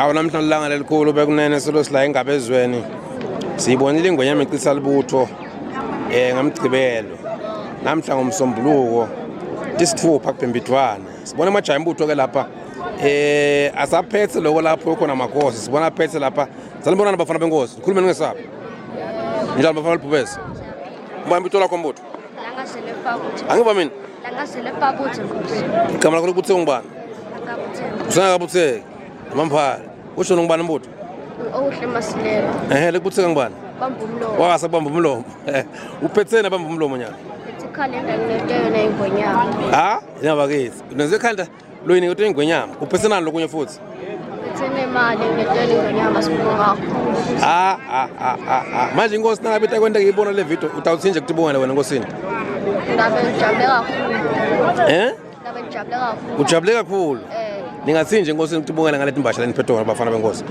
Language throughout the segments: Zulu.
awu namhlanje ilanga lelikhulu bekunene silosi la ingaba ezweni siyibonile ingwenya micisa libutho um ngamgcibelo namhla ngomsombuluko isithupha kubhembidwane sibona amajaha embutho ke lapha eh asaphethe lokho lapho khona amakhosi sibona aphethe lapha sanibonana bafana benkosi ukhulumeni ngesabi njalo bafana libhubesi mbamba itolakho mbutho angiva mina igama lakho likubutheke ngubani usengakabutheki amamphala ushona ngubani mbutho ehe likubutheka ngubani wakasa kubamba umlomo uphetheni abamba umlomo nyana ha yinabakithi nenze ekhanda Loyi ngithe ingwenyama, uphesenani lokunye futhi? Uthene imali ngitshela ingwenyama sibonga kakhulu. Ah ah ah ah. ah. Manje inkosi nangabe itakwenta ngiyibona le video utawuthini nje kutibongela wena nkosini? Ngabe ngijabule kakhulu. Eh? Ngabe ngijabule kakhulu. Ujabule kakhulu. Eh. Ningathini nje nkosini kutibongela ngale timbasha leniphethe wona bafana benkosi.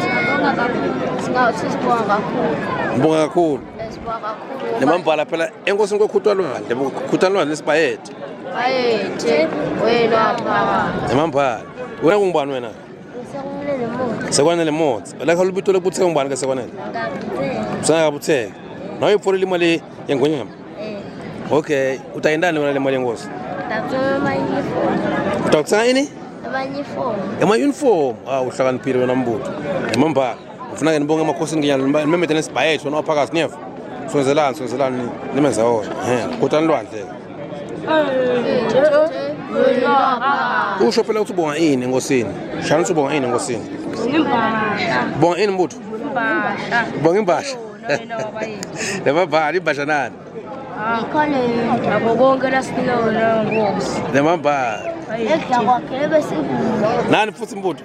Sibonga kakhulu. Singawu sibonga kakhulu. Ngibonga kakhulu. Eh, Sibonga kakhulu. Nemambala phela enkosini kokhutalwane, kokhutalwane lesibhayede. Bayethe wena phakathi. Emambhala. Wena kungubani wena? Sekwanele motsi. Sekwanele motsi. La kha lubito lokuthe kungubani ke sekwanele? Ngabuthe. Sana kabutheke. Nawe iphorele imali yengonyama. Eh. Okay, utayindani wena le mali yengosi? Ngabuthe mali yefoni. Utawuthenga ini? Abanye ifoni. Ema uniform. Ah uhlakaniphile wena mbutho. Emambhala. ngifuna ke nibonge emakhosini nginyana nimemede nesibhayethu wena waphakathi niyeva sonzelani sonzelani nimenza wona kotani lwandle usho phela ukuthi ubonga ini enkosini shana ukuthi ubonga ini enkosini bonga ini mbutho bonga imbasha lemabhali imbasha nani lemabhali nani futhi mbutho